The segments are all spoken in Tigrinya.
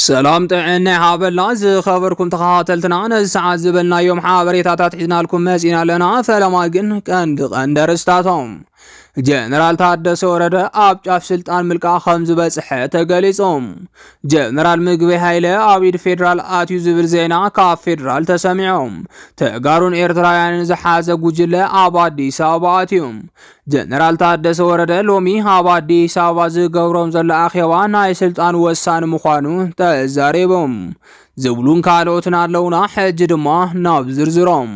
ሰላም ጥዕና ይሃበልና ዝኸበርኩም ተኸታተልትና፣ ነዚ ሰዓት ዝበልናዮም ሓበሬታታት ሒዝናልኩም መጺና ኣለና። ፈለማ ግን ቀንዲ ቀንዲ ኣርእስታቶም ጀነራል ታደሰ ወረደ ኣብ ጫፍ ስልጣን ምልቃ ከም ዝበጽሐ ተገሊጹ። ጀነራል ምግበይ ሃይለ ኣብ ኢድ ፌዴራል ኣትዩ ዝብል ዜና ካብ ፌዴራል ተሰሚዖም። ተጋሩን ኤርትራውያንን ዝሓዘ ጉጅለ ኣብ ኣዲስ ኣበባ ኣትዩ። ጀነራል ታደሰ ወረደ ሎሚ ኣብ ኣዲስ ኣበባ ዝገብሮም ዘሎ ኣኼባ ናይ ስልጣን ወሳኒ ምዃኑ ተዛሪቦም ዝብሉን ካልኦትን ኣለውና። ሕጂ ድማ ናብ ዝርዝሮም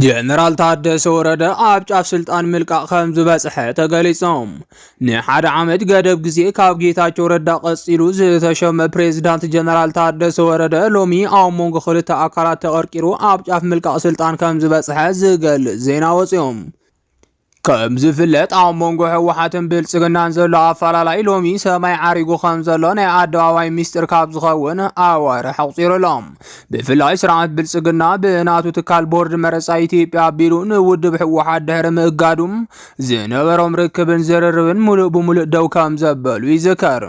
ጀነራል ታደሰ ወረደ ኣብ ጫፍ ስልጣን ምልቃቕ ከም ዝበጽሐ ተገሊጾም ንሓደ ዓመት ገደብ ግዜ ካብ ጌታቸው ረዳ ቀጺሉ ዝተሸመ ፕሬዝዳንት ጀነራል ታደሰ ወረደ ሎሚ ኣብ መንጎ ክልተ ኣካላት ተቐርቂሩ ኣብ ጫፍ ምልቃቕ ስልጣን ከም ዝበጽሐ ዝገልጽ ዜና ወጺኦም ከም ዝፍለጥ ኣብ መንጎ ህወሓትን ብልፅግናን ዘሎ ኣፈላላይ ሎሚ ሰማይ ዓሪጉ ከም ዘሎ ናይ ኣደባባይ ሚስጢር ካብ ዝኸውን ኣዋርሕ ኣቑፂሩ ኣሎ። ብፍላይ ስርዓት ብልፅግና ብናቱ ትካል ቦርድ መረፃ ኢትዮጵያ ኣቢሉ ንውድብ ህወሓት ድሕሪ ምእጋዱ ዝነበሮም ርክብን ዝርርብን ሙሉእ ብሙሉእ ደው ከም ዘበሉ ይዝከር።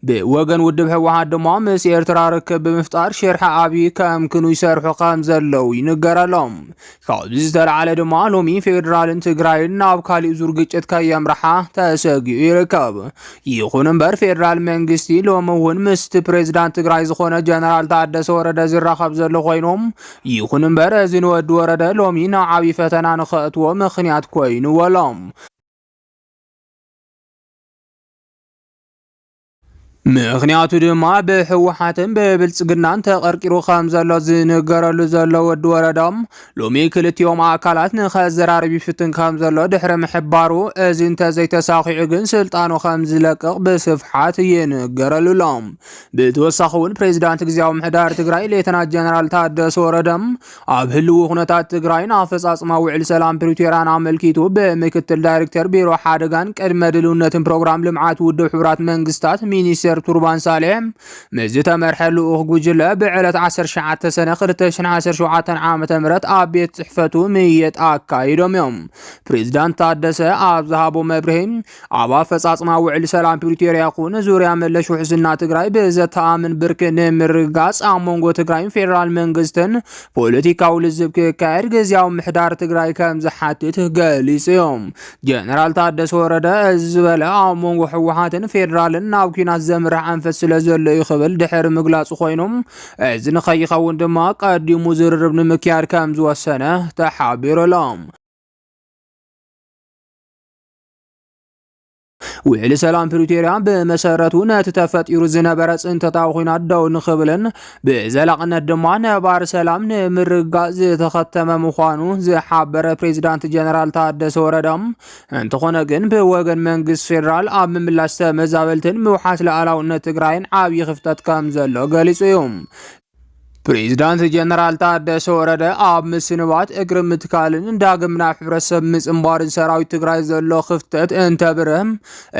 ብወገን ውድብ ህወሓት ድማ ምስ ኤርትራ ርክብ ብምፍጣር ሽርሒ ኣብዪ ከምክኑ ይሰርሑ ከም ዘለዉ ይንገረሎም። ካብዚ ዝተለዓለ ድማ ሎሚ ፌዴራልን ትግራይን ናብ ካሊእ ዙር ግጭት ከየምርሓ ተሰጊኡ ይርከብ። ይኹን እምበር ፌዴራል መንግስቲ ሎሚ እውን ምስቲ ፕሬዚዳንት ትግራይ ዝኾነ ጀነራል ታደሰ ወረደ ዝራኸብ ዘሎ ኮይኖም ይኹን እምበር እዚ ንወዲ ወረደ ሎሚ ናብ ዓብዪ ፈተና ንኸእትዎ ምኽንያት ኮይኑዎ ኣሎ። ምኽንያቱ ድማ ብህወሓትን ብብልፅግናን ተቐርቂሩ ከም ዘሎ ዝንገረሉ ዘሎ ወዲ ወረደ ሎሚ ክልቲኦም ኣካላት ንኸዘራርብ ይፍትን ከም ዘሎ ድሕሪ ምሕባሩ እዚ እንተዘይተሳኺዑ ግን ስልጣኑ ከም ዝለቅቕ ብስፍሓት ይንገረሉ ኣሎ። ብተወሳኺ እውን ፕሬዚዳንት ግዜያዊ ምሕዳር ትግራይ ሌተናት ጀነራል ታደሰ ወረደ ኣብ ህልዊ ኩነታት ትግራይን ኣፈፃፅማ ውዕል ሰላም ፕሪቶሪያን ኣመልኪቱ ብምክትል ዳይሬክተር ቢሮ ሓደጋን ቅድመ ድልውነትን ፕሮግራም ልምዓት ውድብ ሕቡራት መንግስታት ሚኒስተር ቱርባን ሳሌሕ ምስ ዝተመርሐ ልኡኽ ጉጅለ ብዕለት 19 ሰነ 2017 ዓ ም ኣብ ቤት ፅሕፈቱ ምየጣ ኣካይዶም እዮም ፕሬዚዳንት ታደሰ ኣብ ዝሃቦ መብርሂ ኣብ ኣፈጻጽማ ውዕሊ ሰላም ፕሪቶርያ ይኹን ዙርያ መለሽ ውሕስና ትግራይ ብዘተኣምን ብርክ ንምርግጋጽ ኣብ መንጎ ትግራይን ፌዴራል መንግስትን ፖለቲካዊ ልዝብ ክካየድ ግዜያዊ ምሕዳር ትግራይ ከም ዝሓትት ገሊጹ እዩ። ጀነራል ታደሰ ወረደ እዚ ዝበለ ኣብ መንጎ ህወሓትን ፌዴራልን ናብ ኩናት ዘምርሕ ኣንፈት ስለ ዘሎ እዩ ክብል ድሕሪ ምግላጹ ኮይኑ እዚ ንኸይኸውን ድማ ቀዲሙ ዝርርብ ንምክያድ ከም ዝወሰነ ተሓቢሩ ኣሎ። ውዕሊ ሰላም ፕሪቶርያ ብመሰረቱ ነቲ ተፈጢሩ ዝነበረ ፅንተታዊ ኩናት ደው ንኽብልን ብዘላቕነት ድማ ነባር ሰላም ንምርግጋፅ ዝተኸተመ ምዃኑ ዝሓበረ ፕሬዚዳንት ጀነራል ታደሰ ወረደ እንተኾነ ግን ብወገን መንግስት ፌዴራል ኣብ ምምላሽ ተመዛበልትን ምውሓስ ላዕላውነት ትግራይን ዓብዪ ክፍተት ከም ዘሎ ገሊፁ እዩ። ፕሬዚዳንት ጀነራል ታደሰ ወረደ ኣብ ምስንባት እግሪ ምትካልን ዳግም ናብ ሕብረተሰብ ምፅምባርን ሰራዊት ትግራይ ዘሎ ክፍተት እንተብርህ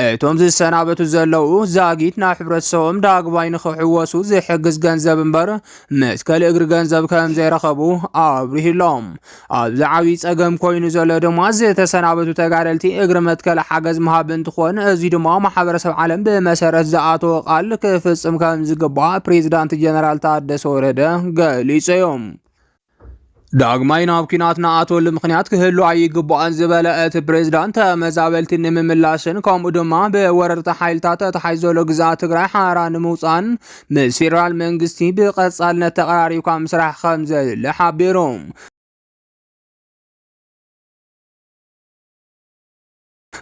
እቶም ዝሰናበቱ ዘለዉ ዛጊት ናብ ሕብረተሰቦም ዳግማይ ንክሕወሱ ዝሕግዝ ገንዘብ እምበር መትከል እግሪ ገንዘብ ከምዘይረኸቡ ኣብሪህሎም። ኣብዚ ዓብይ ፀገም ኮይኑ ዘሎ ድማ ዝተሰናበቱ ተጋደልቲ እግሪ መትከል ሓገዝ ምሃብ እንትኾን እዚ ድማ ማሕበረሰብ ዓለም ብመሰረት ዝኣተወ ቃል ክፍፅም ከም ዝግባእ ፕሬዚዳንት ጀነራል ታደሰ ወረደ ገሊፁ እዮም። ዳግማይ ናብ ኲናት ንኣትወሉ ምኽንያት ክህሉ ኣይግባእን ዝበለ እቲ ፕሬዝዳንት ተመዛበልቲ ንምምላስን ከምኡ ድማ ብወረርቲ ሓይልታት ተታሒዝ ዘሎ ግዝኣት ትግራይ ሓራ ንምውፃእን ምስ ፌደራል መንግስቲ ብቐፃልነት ተቐራሪብካ ምስራሕ ከምዘድሊ ሓቢሮም።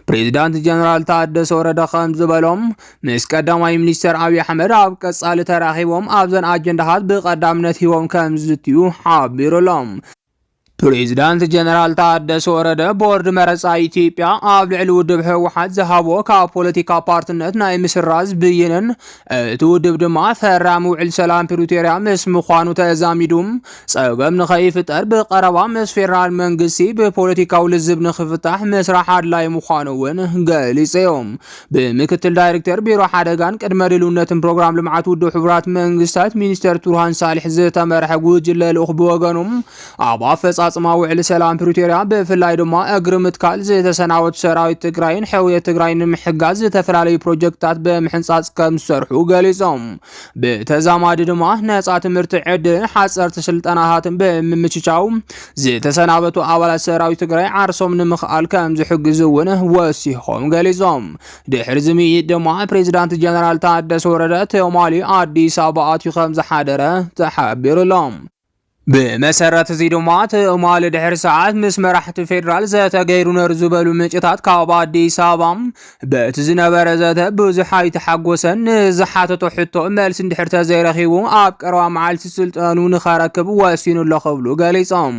ፕሬዚዳንት ጀነራል ታደሰ ወረደ ከም ዝበሎም ምስ ቀዳማይ ሚኒስትር ኣብዪ ኣሕመድ ኣብ ቀጻሊ ተራኺቦም ኣብዘን ኣጀንዳታት ብቀዳምነት ሂቦም ከም ዝዝትዩ ሓቢሩሎም። ፕሬዚዳንት ጀነራል ታደሰ ወረደ ቦርድ መረፃ ኢትዮጵያ ኣብ ልዕሊ ውድብ ህወሓት ዝሃቦ ካብ ፖለቲካ ፓርትነት ናይ ምስራዝ ብይንን እቲ ውድብ ድማ ፈራሚ ውዕል ሰላም ፕሪቶሪያ ምስ ምዃኑ ተዛሚዱ ፀገም ንኸይፍጠር ብቀረባ ምስ ፌዴራል መንግስቲ ብፖለቲካዊ ልዝብ ንክፍታሕ ምስራሕ ኣድላይ ምዃኑ እውን ገሊፆም። ብምክትል ዳይሬክተር ቢሮ ሓደጋን ቅድመ ድልውነትን ፕሮግራም ልምዓት ውድብ ሕቡራት መንግስታት ሚኒስተር ቱርሃን ሳልሕ ዝተመርሐ ጉጅለ ልኡኽ ብወገኑ ኣብ ኣፈፃፅማ ውዕሊ ሰላም ፕሪቶሪያ ብፍላይ ድማ እግሪ ምትካል ዝተሰናበቱ ሰራዊት ትግራይን ሕውየት ትግራይ ንምሕጋዝ ዝተፈላለዩ ፕሮጀክትታት ብምሕንፃፅ ከም ዝሰርሑ ገሊፆም። ብተዛማዲ ድማ ነፃ ትምህርቲ ዕድልን ሓፀርቲ ስልጠናታትን ብምምችቻው ዝተሰናበቱ ኣባላት ሰራዊት ትግራይ ዓርሶም ንምኽኣል ከም ዝሕግዝ እውን ወሲኾም ገሊፆም። ድሕሪ ዝምይጥ ድማ ፕሬዚዳንት ጀነራል ታደሰ ወረደ ትማሊ ኣዲስ ኣበባ ኣትዩ ከም ዝሓደረ ተሓቢሩሎም። ብመሰረት እዚ ድማ ትማሊ ድሕሪ ሰዓት ምስ መራሕቲ ፌዴራል ዘተ ገይሩ ነሩ ዝበሉ ምንጭታት ካብ ኣዲስ ኣበባ በቲ ዝነበረ ዘተ ብዙሕ ኣይተሓጎሰን ንዝሓተቶ ሕቶ መልሲ እንድሕር ተዘይረኺቡ ኣብ ቀረባ መዓልቲ ስልጠኑ ንኸረክብ ወሲኑ ኣሎ ክብሉ ገሊፆም።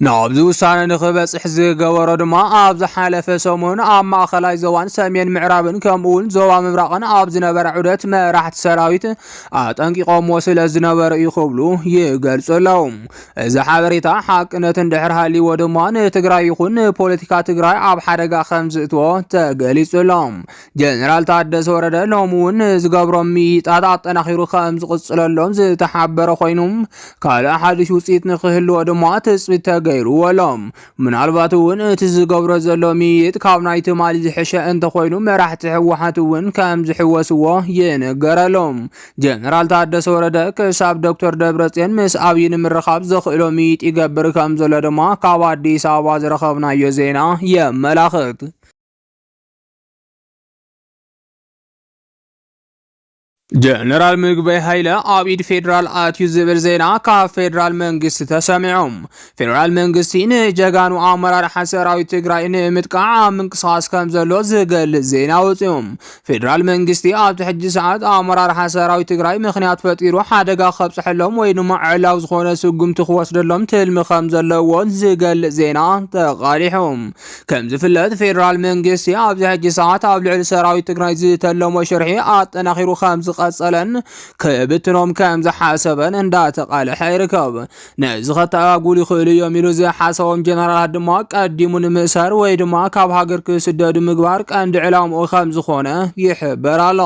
ናብዚ ውሳነ ንክበፅሕ ዝገበሮ ድማ ኣብ ዝሓለፈ ሰሙን ኣብ ማእኸላይ ዞባን ሰሜን ምዕራብን ከምኡውን ዞባ ምብራቕን ኣብ ዝነበረ ዑደት መራሕቲ ሰራዊት ኣጠንቂቖምዎ ስለ ዝነበሩ እዩ ክብሉ ይገልፁ ኣለዉ። እዚ ሓበሬታ ሓቅነት እንድሕር ሃልይዎ ድማ ንትግራይ ይኹን ንፖለቲካ ትግራይ ኣብ ሓደጋ ከም ዝእትዎ ተገሊፁ ኣሎ። ጀነራል ታደሰ ወረደ ሎሚ እውን ዝገብሮም ምይይጣት ኣጠናኺሩ ከም ዝቕፅለሎም ዝተሓበረ ኮይኑ ካልእ ሓድሽ ውፅኢት ንክህልዎ ድማ ትፅቢት ተገይሩዎ ኣሎ። ምናልባት እውን እቲ ዝገብሮ ዘሎ ምይይጥ ካብ ናይ ትማሊ ዝሕሸ እንተኮይኑ መራሕቲ ህወሓት እውን ከም ዝሕወስዎ ይንገረሎም። ጀነራል ታደሰ ወረደ ክሳብ ዶክተር ደብረፅዮን ምስ ኣብዪ ንምርኻብ ዘኽእሎ ምይይጥ ይገብር ከም ዘሎ ድማ ካብ ኣዲስ ኣበባ ዝረኸብናዮ ዜና የመላኽት። ጀነራል ምግበይ ሃይለ ኣብ ኢድ ፌዴራል ኣትዩ ዝብል ዜና ካብ ፌዴራል መንግስቲ ተሰሚዑ። ፌዴራል መንግስቲ ንጀጋኑ ኣመራርሓ ሰራዊት ትግራይ ንምጥቃዕ ኣብ ምንቅስቓስ ከም ዘሎ ዝገልጽ ዜና ወፂኡ። ፌዴራል መንግስቲ ኣብቲ ሕጂ ሰዓት ኣመራርሓ ሰራዊት ትግራይ ምክንያት ፈጢሩ ሓደጋ ከብፅሐሎም ወይ ድማ ዕላዊ ዝኾነ ስጉምቲ ክወስደሎም ትልሚ ከም ዘለዎን ዝገልጽ ዜና ተቓሊሑ። ከም ዝፍለጥ ፌዴራል መንግስቲ ኣብዚ ሕጂ ሰዓት ኣብ ልዕሊ ሰራዊት ትግራይ ዝተለሞ ሽርሒ ኣጠናኺሩ ከም ዝቐጸለን ክብትኖም ከም ዝሓሰበን እንዳተቓለሐ ይርከብ። ነዚ ከተኣጓጉሉ ይኽእሉ እዮም ኢሉ ዝሓሰቦም ጀነራላት ድማ ቀዲሙ ንምእሳር ወይ ድማ ካብ ሃገር ክስደዱ ምግባር ቀንዲ ዕላምኡ ከም ዝኾነ ይሕበር ኣሎ።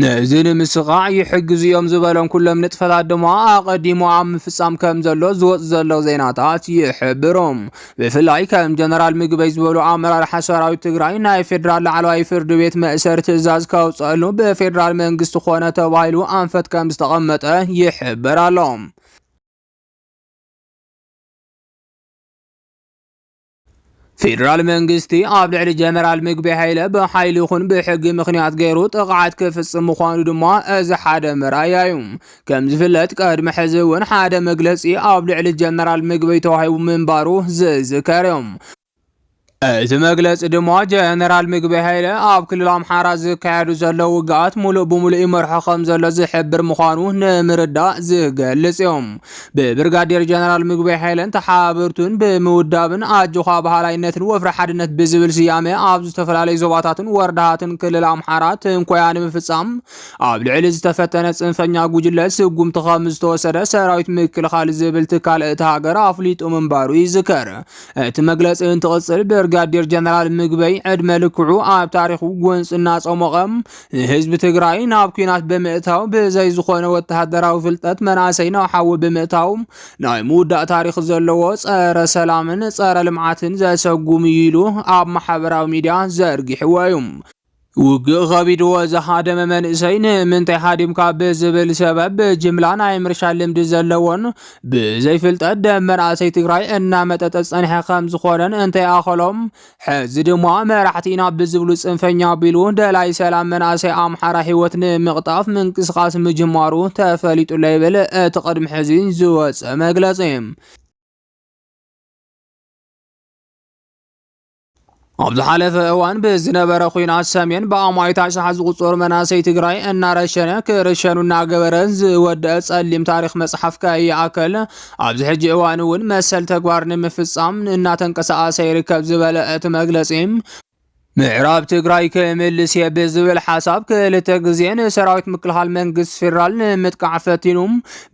ነዚ ንምስኻዕ ይሕግዙ እዮም ዝበሎም ኩሎም ንጥፈታት ድማ ኣቐዲሙ ኣብ ምፍጻም ከም ዘሎ ዝወጽ ዘሎ ዜናታት ይሕብሩ። ብፍላይ ከም ጀነራል ምግበይ ዝበሉ ኣመራርሓ ሰራዊት ትግራይ ናይ ፌዴራል ላዕለዋይ ፍርድ ቤት መእሰሪ ትእዛዝ ከውፅኣሉ ብፌዴራል መንግስቲ ኮነ ተባሂሉ ኣንፈት ከም ዝተቐመጠ ይሕበር ኣሎ። ፌደራል መንግስቲ ኣብ ልዕሊ ጀነራል ምግቢ ሃይለ ብሓይሊ ይኹን ብሕጊ ምኽንያት ገይሩ ጥቕዓት ክፍፅም ምዃኑ ድማ እዚ ሓደ መርኣያ እዩ። ከም ዝፍለጥ ቅድሚ ሕዚ እውን ሓደ መግለፂ ኣብ ልዕሊ ጀነራል ምግቢ ተዋሂቡ ምንባሩ ዝዝከር እዩ። እቲ መግለፂ ድማ ጀነራል ምግቢ ሃይለ ኣብ ክልል ኣምሓራ ዝካየዱ ዘለዉ ውግኣት ሙሉእ ብሙሉእ ይመርሖ ከም ዘሎ ዝሕብር ምዃኑ ንምርዳእ ዝገልፅ እዮም። ብብርጋዴር ጀነራል ምግበይ ሓይለን ተሓባበርቱን ብምውዳብን ኣጆዃ በሃላይነትን ወፍሪ ሓድነት ብዝብል ስያመ ኣብ ዝተፈላለዩ ዞባታትን ወረዳታትን ክልል ኣምሓራ ትንኮያ ንምፍፃም ኣብ ልዕሊ ዝተፈተነ ፅንፈኛ ጉጅለ ስጉምቲ ከም ዝተወሰደ ሰራዊት ምክልኻል ዝብል ትካል እቲ ሃገር ኣፍሊጡ ምንባሩ ይዝከር። እቲ መግለፂ እንትቕፅል ብርጋዴር ጀነራል ምግበይ ዕድመ ልክዑ ኣብ ታሪኹ ጎንፂ እናፀሞቐ ህዝቢ ትግራይ ናብ ኩናት ብምእታው ብዘይ ዝኾነ ወተሃደራዊ ፍልጠት መናእሰይ ናብ ሓዊ ብምእታው ናይ ምውዳእ ታሪክ ዘለዎ ጸረ ሰላምን ጸረ ልምዓትን ዘሰጉም እዩ ኢሉ ኣብ ማሕበራዊ ሚድያ ዘርጊሕዎ እዩ። ውግእ ከቢድዎ ዝሃደመ መንእሰይ ንምንታይ ሃዲምካ ብዝብል ሰበብ ብጅምላ ናይ ምርሻን ልምዲ ዘለዎን ብዘይ ፍልጠት ደም መናእሰይ ትግራይ እናመጠጠ ዝጸንሐ ከም ዝኾነን እንታይ ኣኸሎም ሕዚ ድማ መራሕቲ ኢና ብዝብሉ ፅንፈኛ ቢሉ ደላይ ሰላም መናእሰይ ኣምሓራ ህይወት ንምቕጣፍ ምንቅስቓስ ምጅማሩ ተፈሊጡሎ ይብል እቲ ቅድሚ ሕዚ ዝወፀ መግለፂ። ኣብ ዝሓለፈ እዋን ብዝነበረ ኩናት ሰሜን ብኣማኢት ኣሽሓት ዝቑፀሩ መናእሰይ ትግራይ እናረሸነ ክርሸኑ እናገበረ ዝወደአ ፀሊም ታሪክ መፅሓፍ ከይኣከል ኣብዚ ሕጂ እዋን እውን መሰል ተግባር ንምፍፃም እናተንቀሳቐሰ ይርከብ ዝበለ እቲ መግለፂ ምዕራብ ትግራይ ክምልስ እየ ብዝብል ሓሳብ ክልተ ግዜ ንሰራዊት ምክልኻል መንግስቲ ፌዴራል ንምጥቃዕ ፈቲኑ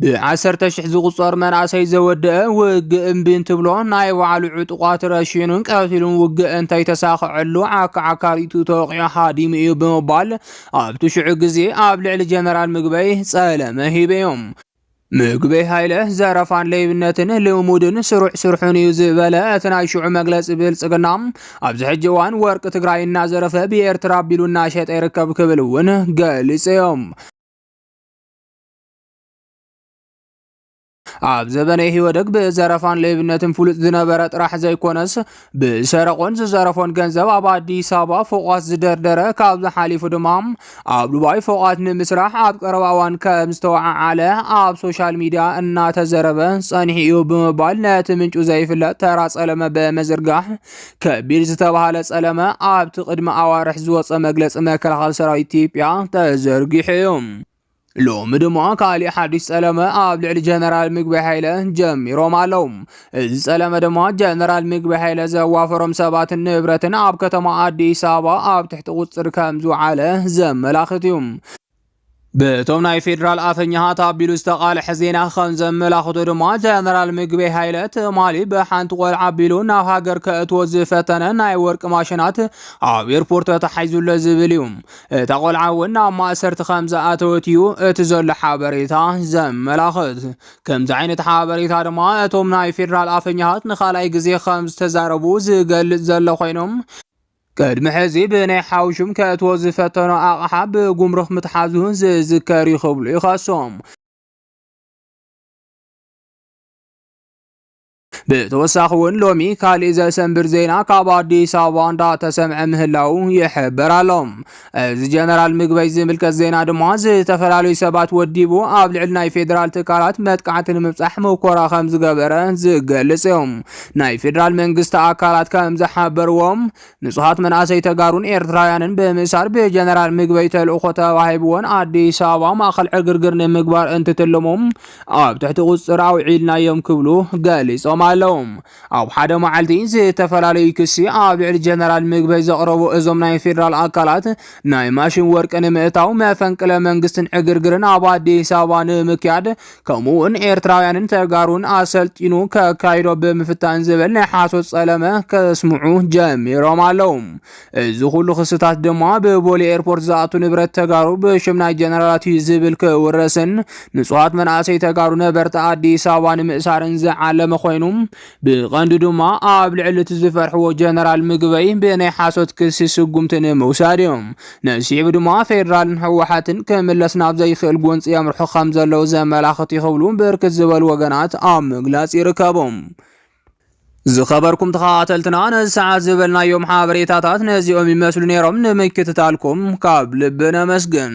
ብዓሰርተ ሽሕ ዝቑፀር መናእሰይ ዘወደአ ውግእ እምቢ እንትብሎ ናይ ባዕሉ ዕጡቋት ረሽኑን ቀቲሉን ውግእ እንተይተሳኸዐሉ ዓካዓካሪቱ ተወቂዑ ሃዲሙ እዩ ብምባል ኣብቲ ሽዑ ግዜ ኣብ ልዕሊ ጀነራል ምግበይ ፀለመ ሂበዮም ምግበይ ሃይለ ዘረፋን ለይብነትን ልሙድን ስሩዕ ስርሑን እዩ ዝበለ እቲ ናይ ሽዑ መግለፂ ብልፅግና ኣብዚ ሕጂ እዋን ወርቂ ትግራይ እናዘረፈ ብኤርትራ ኣቢሉ እናሸጠ ይርከብ ክብል እውን ገሊፆም። ኣብ ዘበነ ኢህወደግ ብዘረፋን ለይብነትን ፍሉጥ ዝነበረ ጥራሕ ዘይኮነስ ብሰረቆን ዝዘረፎን ገንዘብ ኣብ ኣዲስ ኣበባ ፎቋት ዝደርደረ ካብዚ ሓሊፉ ድማ ኣብ ዱባይ ፎቋት ንምስራሕ ኣብ ቀረባ እዋን ከም ዝተወዓዓለ ኣብ ሶሻል ሚዲያ እናተዘረበ ጸኒሑ እዩ ብምባል ነቲ ምንጩ ዘይፍለጥ ተራ ጸለመ ብምዝርጋሕ ከቢድ ዝተባሃለ ጸለመ ኣብቲ ቅድሚ ኣዋርሕ ዝወፀ መግለፂ መከላኸሊ ሰራዊት ኢትዮጵያ ተዘርጊሑ እዩ። ሎሚ ድማ ካሊእ ሓዱሽ ጸለመ ኣብ ልዕሊ ጀነራል ምግቢ ሃይለ ጀሚሮም ኣለዉ። እዚ ጸለመ ድማ ጀነራል ምግቢ ሃይለ ዘዋፈሮም ሰባትን ንብረትን ኣብ ከተማ ኣዲስ ኣበባ ኣብ ትሕቲ ቁጽሪ ከም ዝውዓለ ዘመላኽት እዩ። በቶም ናይ ፌዴራል ኣፈኛሃት ኣቢሉ ዝተቓልሐ ዜና ከም ዘመላኽቶ ድማ ጀነራል ምግቢ ሃይለ ትማሊ ብሓንቲ ቆልዓ ኣቢሉ ናብ ሃገር ከእትዎ ዝፈተነ ናይ ወርቂ ማሽናት ኣብ ኤርፖርት ተታሒዙለ ዝብል እዩ። እታ ቆልዓ እውን ናብ ማእሰርቲ ከም ዝኣተወት እዩ እቲ ዘሎ ሓበሬታ ዘመላኽት። ከምዚ ዓይነት ሓበሬታ ድማ እቶም ናይ ፌዴራል ኣፈኛታት ንካልኣይ ግዜ ከም ዝተዛረቡ ዝገልጽ ዘሎ ኮይኖም ቅድሚ ሕዚ ብናይ ሓውሹም ከእትዎ ዝፈተኖ ኣቕሓ ብጉምሩክ ምትሓዙ ዝዝከር እዩ ክብሉ ይኸሶም። ብተወሳኺ እውን ሎሚ ካሊእ ዘሰንብድ ዜና ካብ ኣዲስ ኣበባ እንዳተሰምዐ ምህላው ይሕበር ኣሎ። እዚ ጀነራል ምግበይ ዝምልከት ዜና ድማ ዝተፈላለዩ ሰባት ወዲቡ ኣብ ልዕሊ ናይ ፌዴራል ትካላት መጥቃዕቲ ንምብፃሕ መኮራ ከም ዝገበረ ዝገልፅ እዩ። ናይ ፌዴራል መንግስቲ ኣካላት ከም ዝሓበርዎም ንጹሃት መናእሰይ ተጋሩን ኤርትራውያንን ብምእሳር ብጀነራል ምግበይ ተልእኾ ተዋሂብዎን ኣዲስ ኣበባ ማእኸል ዕግርግር ንምግባር እንትትልሙ ኣብ ትሕቲ ቁፅፅር ኣውዒልናዮም ክብሉ ገሊፆም ኣለዉ። ኣብ ሓደ መዓልቲ ዝተፈላለዩ ክሲ ኣብ ልዕሊ ጀነራል ምግበይ ዘቕረቡ እዞም ናይ ፌዴራል ኣካላት ናይ ማሽን ወርቂ ንምእታው መፈንቅለ መንግስትን ዕግርግርን ኣብ ኣዲስ ኣበባ ንምክያድ ከምኡውን ኤርትራውያንን ተጋሩን ኣሰልጢኑ ከካይዶ ብምፍታን ዝብል ናይ ሓሶት ጸለመ ከስምዑ ጀሚሮም ኣለዉ። እዚ ኩሉ ክስታት ድማ ብቦሌ ኤርፖርት ዝኣቱ ንብረት ተጋሩ ብሽም ናይ ጀነራላት እዩ ዝብል ክውረስን ንጹሃት መናእሰይ ተጋሩ ነበርቲ ኣዲስ ኣበባ ንምእሳርን ዝዓለመ ኮይኑ ብቐንዱ ድማ ኣብ ልዕሊ እቲ ዝፈርሕዎ ጀነራል ምግበይ ብናይ ሓሶት ክሲ ስጉምቲ ንምውሳድ እዩ። ነዚ ስዒቡ ድማ ፌደራልን ህወሓትን ክምለስ ናብ ዘይክእል ጎንፂ የምርሑ ከምዘለዉ ዘመላኽት እዩ ክብሉ ብርክት ዝበሉ ወገናት ኣብ ምግላፅ ይርከቡ። ዝኸበርኩም ተኸታተልትና ነዚ ሰዓት ዝበልናዮም ሓበሬታታት ነዚኦም ይመስሉ ነይሮም። ንምክትታልኩም ካብ ልቢ ነመስግን።